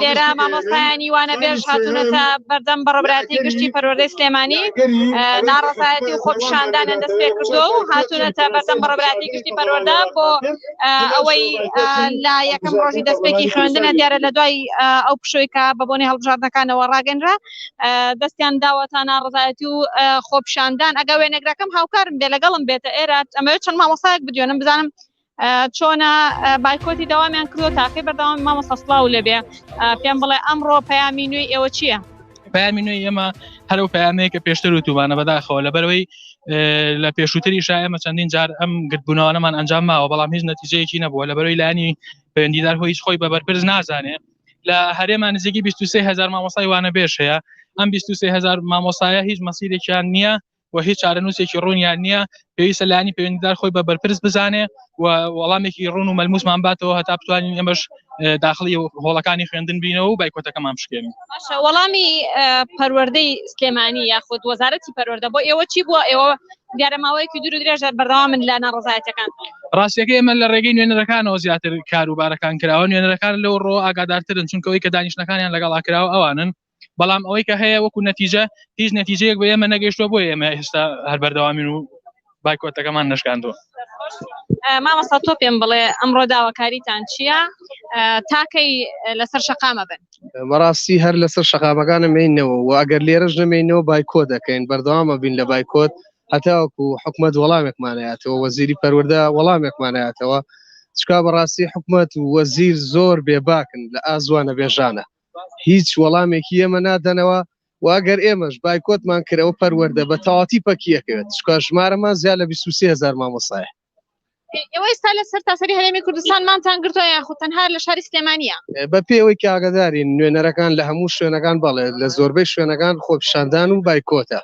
لێرە مامۆستایانی وانە بێژ هاتونەتە بەردەم بەڕبراتی گشتی پەرۆردەی سلێمانی ناڕزایەتی و خۆپشاندانە دەست پێ کردو و هاتونەتە بەردەم بەڕبراتی گشتی پەرۆردا بۆ ئەوەی لە یەکەم ڕۆژی دەستپێکی خوێندنە دیارە لە دوای ئەو پشویکە بە بۆنی هەڵبژاردنەکانەوە ڕاگەنرا دەستیان داوەتا ناڕزایەتی و خۆپشاندان ئەگە وێنەگرەکەم هاوکارم دێ لەگەڵم بێتە ئێرە ئەمە چەند مامۆسایەک بدوێنم بزانم چۆنە بایکۆتی داوامیان کردو تاقی بەردەوام مامۆستا سلااو لەبێ پێم بڵێ ئەمڕۆ پەیامی نوێی ئێوە چییە؟ پامی نوێی ئێمە هەرو پامەیە کە پێشتر و توبانە بەداخەوە لە بەرەوەی لە پێشووتری شایمە چەندین جار ئەم گرتبوونەوەمان ئەنجام ماوە بەڵام هیچ نەتیجەیەکی نەبووە لە بەرەوەی لانی پەیوەندیدار هۆی هیچ خۆی بە بەرپرس نازانێ لە هەرێمان نزیکی 23 هزار مامۆسای وانە بێش هەیە ئەم 23 هزار مامۆسایە هیچ مەسیرێکیان نییە و هیچ چارەنووسێکی ڕوونیان نییە پێویستە لانی پەیوەندیدار خۆی بە بەرپرس بزانێ و وەڵامێکی ڕون و مەلموسمان باتەوە هەتا بتوانین ئەمەش داخلی هۆڵەکانی خوێندن بینەوە و بایکۆتەکەمان بشکێن وەڵامی پەروەردەی سلێمانی یاخود وەزارەتی پەروەەردە بۆ ئێوە چی بووە ئێوە دیارە ماوەیەکی دوور درێژە بەردەوا من لە ناڕزایەتەکان ڕاستەکە ئێمە لە ڕێگەی نوێنەرەکانەوە زیاتر کاروبارەکان کراوە نوێنەرەکان لەو ڕۆ ئاگادارترن چونکەوەی کە دانیشتەکانیان لەگەڵا کراوە ئەوانن بەڵام ئەوەی کە هەیە وەکو نەتیجە هیچ نەتیجەیەک بە ئێمە نەگەشتوە بۆ ئێمە ئێستا هەر بەردەوامین و بایکۆتەکەمان نشکاندوە مامەستا تۆ پێم بڵێ ئەمڕۆ داواکاریتان چییە تاکەی لەسەر شقامە بن بەڕاستی هەر لەسەر شقامەکانە مینەوە و ئەگەر لێرەش نەمینەوە بایکۆ دەکەین بەردەوامە بین لە بایکۆت هەتاوەکو حکومت وەڵامێکمانایەتەوە وەزیری پەروەەردە وەڵامێکمانایەتەوە چکا بەڕاستی حکومت و وەزیر زۆر بێباکن لە ئازوانە بێژانە هیچ وەڵامێکی ئێمە نادەنەوە و ئەگەر ئێمەش بایکۆتمان کرد ئەوە پەروەردە بە تەواتی پەکیەکەوێت چکە ژمارەمان زیاد لە 23 هزار مامۆسایە ئێوە ئێستا لە سەر تاسەری هەرێمی کوردستانمانتان گرتووە یاخود تەنها لە شاری سلێمانە بە پێوەی کاگەدارین نوێنەرەکان لە هەموو شوێنەکان بەڵێت لە زۆربەی شوێنەکان خۆپشاندان و بایکۆتە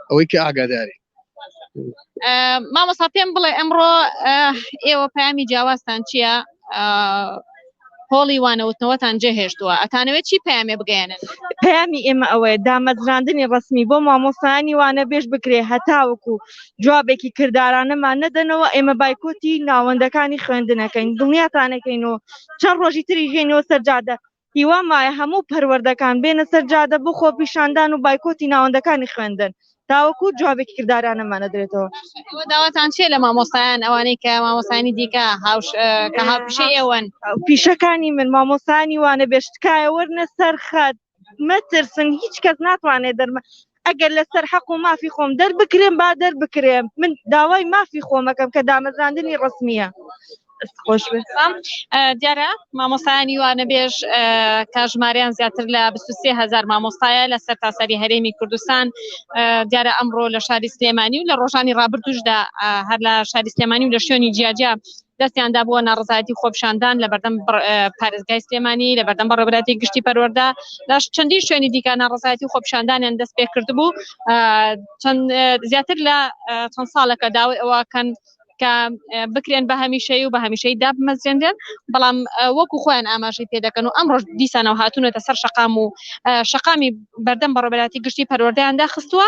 ئەوەی کە ئاگاداری مامۆسا پێم بڵێ ئەمڕۆ ئێوە پامی جیاوازتان چییە هۆڵی وانەوتنەوەتان جێهێشتووە ئەتانەوێت چی پامێ بگەێنن پامی ئێمە ئەوەیە دامەزراندنی ڕسمی بۆ مامۆسانی وانە بێش بکرێ هەتاوەکو جوابێکی کردارانەمان نەدەنەوە ئێمە بایکۆتی ناوەندەکانی خوێندنەکەین دڵنیاتانەکەین و چەند ڕۆژی تری ژێنەوە سەرجادە هیوام وایە هەموو پەروەردەکان بێنە سەر جادە بۆ خۆپیشاندان و بایکۆتی ناوەندەکانی خوێندن تاوەکو جوابێکی کردارانەمان نەدرێتەوە. ئێوە داواتان چییە لە مامۆستایان ئەوانەی کە مامۆستایانی دیکە هاوش اه، کە هاوپیشەی ئێوەن؟ پیشەکانی من مامۆستایانی وانەبێژ تکایە وەرنە سەر خەت مەترسن هیچ کەس ناتوانێت دەرما ئەگەر لەسەر حەق و مافی خۆم دەربکرێم با دەربکرێم من داوای مافی خۆمەکەم کە دامەزراندنی ڕسمیە. دیارە مامۆستایانی وانە بێژ کاژماریان زیاتر لە 23هزار مامۆستایە لە سەر تاسەری هەرێمی کوردستان دیارە ئەمڕۆ لە شاری سلێمانی و لە ڕۆژانی ڕابردوشدا هەر لە شاری سلێمانی و لە شوێنی جیاجیا دەستیان دا بۆ ناڕزایەتی خۆپیشاندان لە بەردەم پارێزگای سلێمانی لە بەردەم بەڕێبراتی گشتی پەروەەردە لە چەندین شوێنی دیکە ناڕزایەتی خۆپیشاندانیان دەست پێ کرد بوو زیاتر لە چەند ساڵەکە داوای ئەوەکەن کە بکرێن بە هەمیشەی و بە هەمیشەی دابمەزرێنرێن بەڵام وەکو خۆیان ئاماژەی پێدەکەن و ئەم ڕۆژ دیسانەوە هاتوونەتە سەر شقام و شقامی بەردەم بەڕێبراتی گشتی پەروەردەیاندا خستووە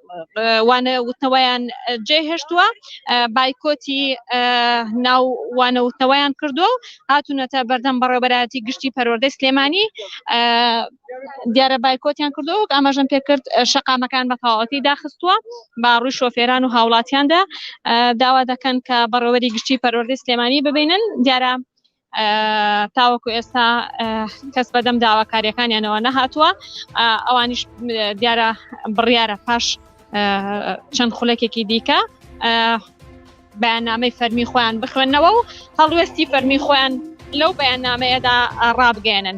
وانە وتنەوەیان جێ هێشتووە بایکۆتی ناو وانە وتنەوەیان کردو و هاتونەتە بەردەم بەڕێبەراتی گشتی پەروەردەی سلێمانی دیارە بایکۆتیان کردو وەک ئاماژەم پێکرد شقامەکان بە تەواوەتی داخستووە با ڕووی شۆفێران و هاوڵاتیاندا داوا دەکەن کە بەڕێوەری گشتی پەروەردەی سلێمانی ببینن دیارە تاوەکو ئێستا کەس بەدەم داواکاریەکانیانەوە نەهاتووە ئەوانیش دیارە بڕیارە پاش چەند خولەکێکی دیکە بەیاننامەی فەرمی خۆیان بخوێندنەوە و هەڵوێستی فەرمی خۆیان لەو بەیاننامەیەدا ڕابگەێنن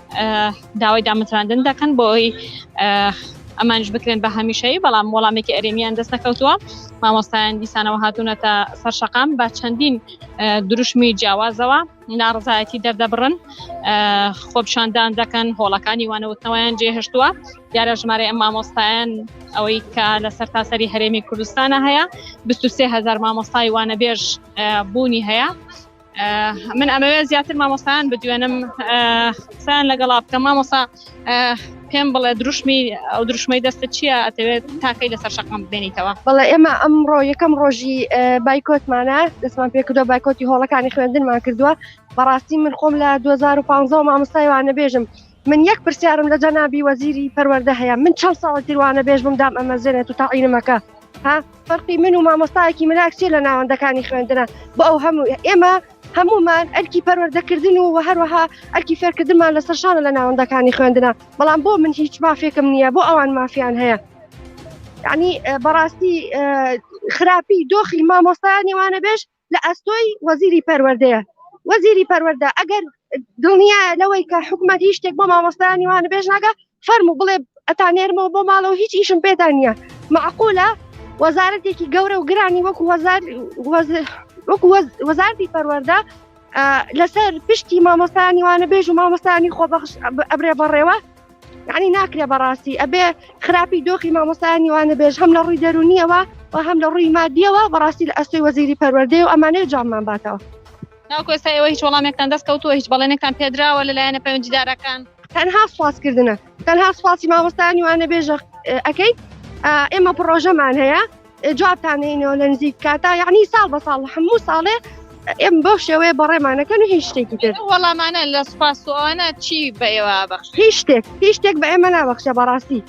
داوای دامەزراندن دەکەن بۆ ئەوی ئەمانش بکرێن بە هەمیشەیی بەڵام وەڵامێکی ئەرێمیان دەست نەکەوتووە مامۆستایان دیسانەوە هاتوونەتە سەر شەقام بە چەندین دروشمی جیاوازەوە ناڕزایەتی دەردەبڕن خۆپشاندان دەکەن هۆڵەکانی وانەوتنەوەیان جێهشتووە دیارە ژمارە ئەم مامۆستایان ئەوەی کە لە سەر تاسەری هەرێمی کوردستانە هەیە 23هزار مامۆستای وانەبێژ بوونی هەیە من ئەمەوێ زیاتر مامۆستایان بدوێنم قسەیان لەگەڵا بکەم مامۆسا پێم بڵێ دروشمی ئەو دروشمەی دەستە چییە ئەتەوێت تاکەی لەسەر شەقام بێنیتەوە بەڵێ ئێمە ئەمڕۆ یەکەم ڕۆژی بایکۆتمانە دەستمان پێکردو بایکۆتی هۆڵەکانی خوێندنمان کردووە بەڕاستی من خۆم لە 2015 مامۆستایوانە بێژم من یەک پرسیارم لە جەنابی وەزیری پەروەردە هەیە من چەند ساڵە تر وانە بێژ بم دام ئەمەزێنێت و تاعینمەکە ها فەرقی من و مامۆستایەکی ملاکچێ لە ناوەندەکانی خوێندنە بۆ ئەو هەموو ئێمە هەمومان ئەرکی پەروەردەکردن و هەروەها ئەرکی فێرکردنمان لە سەرشانە لە ناوەندەکانی خوێندنە بەڵام بۆ من هیچ مافێکم نییە بۆ ئەوان مافیان هەیە ینی بەڕاستی خراپی دۆخی مامۆستایانی وانە بێژ لە ئەستۆی وەزیری پەروەردەیە. وەزیری پەروەردە ئەگەر دڵنیایە لەوەی کە حکومەت هیچ شتێک بۆ مامۆستایانی وانە بێژ ناگە فەرمو بڵێ ئەتانێرمەوە بۆ ماڵەوە هیچ ئیشم پێتان نییە معقولە وەزارەتێکی گەورە و گرانی وەکو وەزار وەکو وەزارتی پەروەەردە لەسەر پشتی مامۆستانی وانە بێژ و مامۆستانی خۆبەخش ئەبرێ بەڕێوە یعنی ناکرێ بەڕاستی ئەبێ خراپی دۆخی مامۆستایانی وانە بێژ هەم لە ڕووی دەرونیەوە و هەم لە ڕووی مادیەوە بەڕاستی لە ئەستۆی وەزیری پەروەردەیە و ئەمانەیە جاممان باتەوە ناکۆستا ئێوە هیچ وەڵامێکتان دەست کەوتووە هیچ بەڵێنێکتان پێدراوە لەلایەنە پەیوەندیدارەکان تەنها سوازکردنە تەنها سوپاسی مامۆستایانی وانە بێژە ئەەکەیت ئێمە پرۆژەمان هەیە جوابتان هینەوە لە نزیک کاتا یعنی ساڵ بە ساڵ هەموو ساڵێ ئێم بۆ شێوەیە بەڕێمانەکەن و هیچ شتێکی تر وەڵامانە لە سوپاسوانە چی بە ئێوە بەخش هیچ شتێک هیچ شتێک بە ئێمە نابەخشە بەڕاستی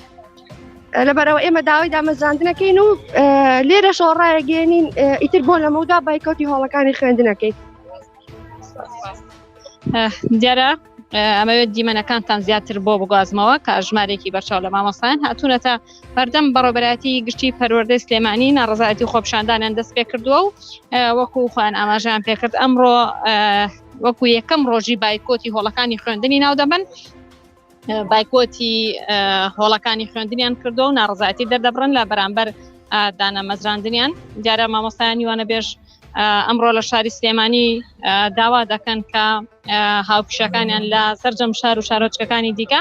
لەبەرەوە ئێمە داوای دامەزراندنەکەین و لێرە شۆڕایەگەێنین ئیتر بۆ لەمەودا بایکوتی هۆڵەکانی خوێندنەکەی دیارە ئەمەوێت دیمەنەکانتان زیاتر بۆ بگوازمەوە کە ژمارێکی بەرچاو لە مامۆستایان هاتوونەتە هەردەم بەڕێوەبەرایەتی گشتی پەروەردەی سلێمانی ناڕزایەتی خۆپشاندانیان دەست پێ کردووە و وەکو خۆیان ئاماژیان پێکرد ئەمڕۆ وەکو یەکەم ڕۆژی بایکۆتی هۆڵەکانی خوێندنی ناو دەبن بایکۆتی هۆڵەکانی خوێندنیان کردو و ناڕزایەتی دەردەبڕن لە بەرامبەر دانە مەزراندنیان دیارە مامۆستایانی وانە بێژ ئەمڕۆ لە شاری سلێمانی داوا دەکەن کە هاوکشەکانیان لە سەررجەم شار و شارۆچکەکانی دیکە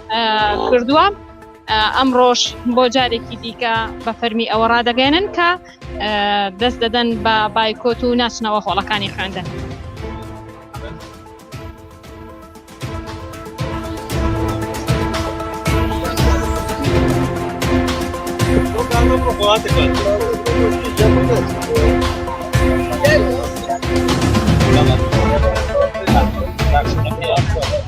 کردووە ئەمڕۆژ بۆ جارێکی دیکە بە فەرمی ئەوە ڕدەگەێنن کە دەست دەدەن بە بایکۆت و ناچنەوە هۆڵەکانی خوێندن. Thank you.